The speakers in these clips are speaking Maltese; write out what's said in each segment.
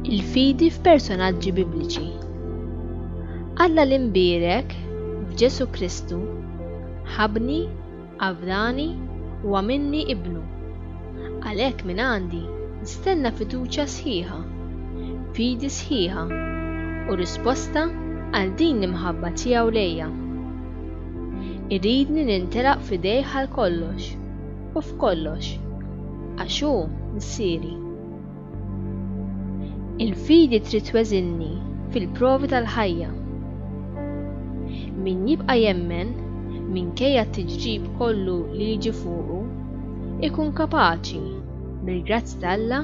Il-fidi f'personaġġi bibliċi. Alla l-imbierek f'Ġesu Kristu ħabni Avrani huwa minni ibnu. Għalhekk minn għandi nistenna fiduċja sħiħa, fidi sħiħa, u risposta għal din l-imħabba tiegħu lejja. Iridni nintelaq f'idejh għal kollox u f'kollox, għax hu Missieri. Il-fidi trid tweżilni fil-provi tal-ħajja. Min jibqa' jemmen, minkejja t-tiġrib kollu li jiġi fuqu, ikun kapaċi, bil-grazzja t'Alla,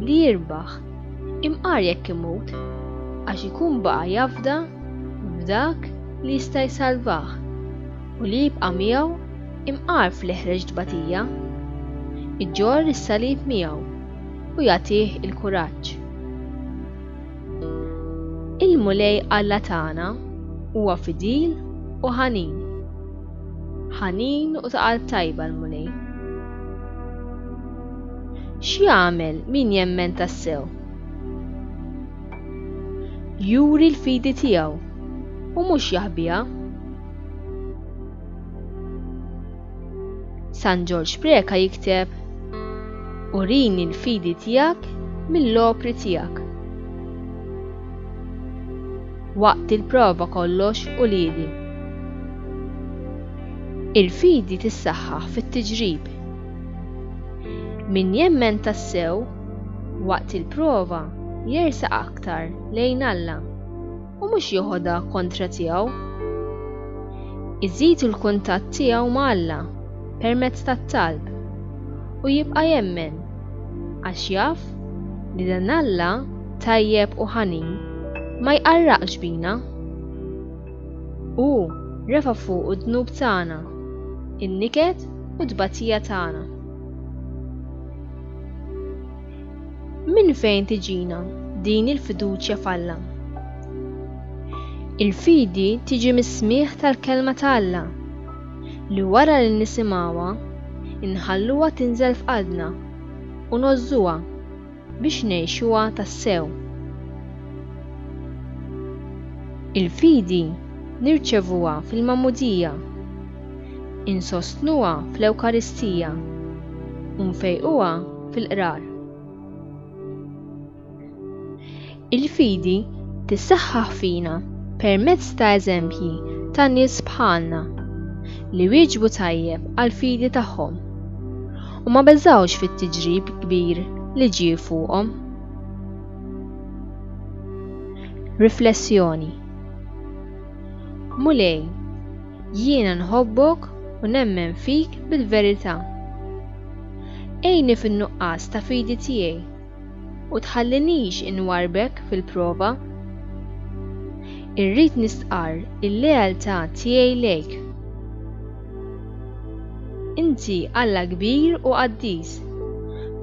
li jirbaħ, imqar jekk imut, għax ikun baqa' jafda f'Dak li jista' jsalvah. u li jibqa' miegħu imqarrf li ħreġ tbatija, iġorr is-salib miegħu u jagħtih il-kuraġġ. Il-Mulej Alla tagħna huwa fidil u ħanin. Ħanin u ta' qalb tajba l-Mulej. X'jagħmel min jemmen tassew? Juri l-fidi tiegħu u mhux jaħbiha. San Ġorġ Preca jikteb, Urini l-fidi tiegħek mill-opri tiegħek. Waqt il-prova kollox u lili. Il-fidi tissaħħaħ fit-tiġrib. Min jemmen tassew waqt il-prova jersa aktar lejn Alla. u mhux joħodha kontra tiegħu. Iżid il-kuntatt tiegħu ma' Alla permezz tat-talb u jibqa' jemmen għax jaf li dan Alla tajjeb u ħanin ma jqarraqx bina. Hu refa' fuqu d-dnub tagħna, in-niket u t-tbatija tagħna. Minn fejn tiġina din il-fiduċja f'Alla? Il-fidi tiġi mis-smigħ tal-Kelma ta' Alla, li wara li nisimgħuha, inħalluha tinżel f'qalbna u ngħożżuha biex ngħixuha tassew. Il-fidi nirċevuha fil-magħmudija, insostnuha fl-Ewkaristija, u nfejquha fil-qrar. Il-fidi tissaħħaħ fina permezz ta' eżempji ta' nies bħalna li wieġbu tajjeb għall-fidi tagħhom u ma beżgħux fit-tiġrib kbir li ġie fuqhom. Riflessjoni Mulej, jiena nħobbok u nemmen fik bil-verità. Għinni fin-nuqqas ta' fidi tiegħi, u tħallinix inwarrbek fil-prova. Irrid nistqarr il-lealtà tiegħi lejk. Inti Alla kbir u qaddis.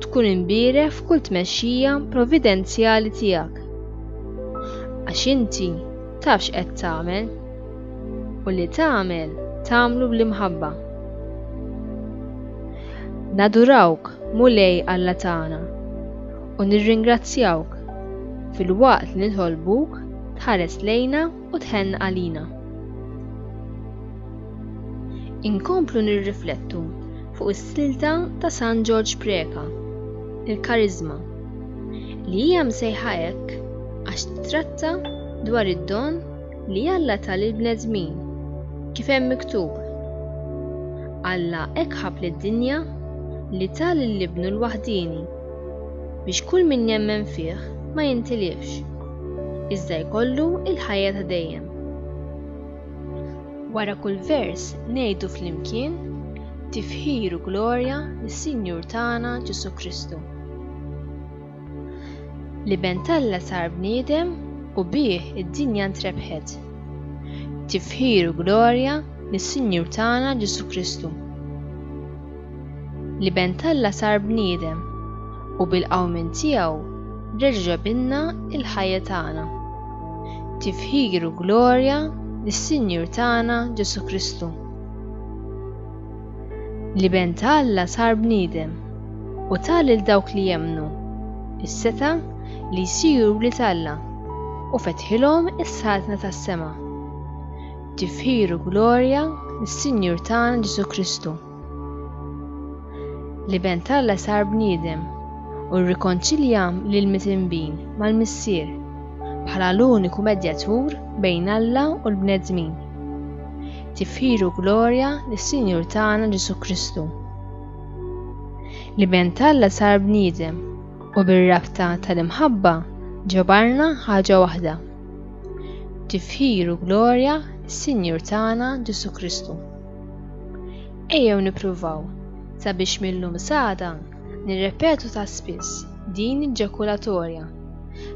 Tkun imbierek f'kull tmexxija providenzjali tiegħek. Għax inti taf x'qed tagħmel. u li tagħmel tagħmlu bl-imħabba. Nadurawk, Mulej Alla tagħna, u nirringrazzjawk filwaqt li nitolbuk tħares lejna u tħenn għalina. Inkomplu nirriflettu fuq is-silta ta' San Ġorġ Preca, il-Kariżma, li hija msejħa hekk għax titratta dwar id-don li Alla ta lill-bnedmin, kif hemm miktub, Alla hekk ħabb lid-dinja li ta lil Ibnu l-waħdieni, biex kull min jemmen fih ma jintilifx, iżda jkollu l-ħajja ta' dejjem. Wara kull vers ngħidu flimkien, Tifħir u glorja lis-Sinjur tagħna Ġesù Kristu. L-Iben t'Alla sar bniedem u bih id-dinja ntrebħet. Tifħir u glorja lis-Sinjur tagħna Ġesù Kristu. L-Iben t'Alla sar bniedem u bil-qawmien tiegħu reġa' ġabilna l-ħajja tagħna. Tifħir u glorja lis-Sinjur tagħna Ġesù Kristu. L-Iben ta' Alla sar bniedem u ta lil dawk li jemmnu s-setgħa li jsiru wlied Alla u fetħilhom is-saltna tas-sema. Tifħir u glorja lis-Sinjur tagħna Ġesù Kristu. L-Iben ta' Alla sar bniedem u rrikonċilja lil mitinbin mal-Missier bħala l-uniku medjatur bejn Alla u l-bnedmin. tifħir u glorja lis-Sinjur tagħna Ġesù Kristu, li ben t'Alla sar bniedem u bir-rabta tal-imħabba ġabarna ħaġa waħda. Tifħir u glorja lis-Sinjur tagħna Ġesù Kristu. Ejjew nippruvaw sabiex mill-lum sada nirrepetu ta' spiss din il-ġakulatorja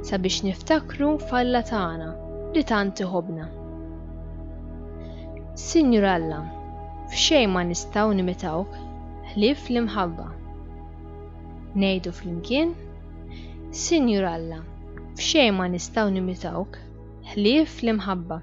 sabiex niftakru f'Alla tagħna li tant iħobbna. Sinjur Alla, f'xejn ma nistgħu nimitawk ħlief l-imħabba. Ngħidu flimkien, Sinjur Alla, f'xejn ma nistgħu nimitawk ħlief l-imħabba.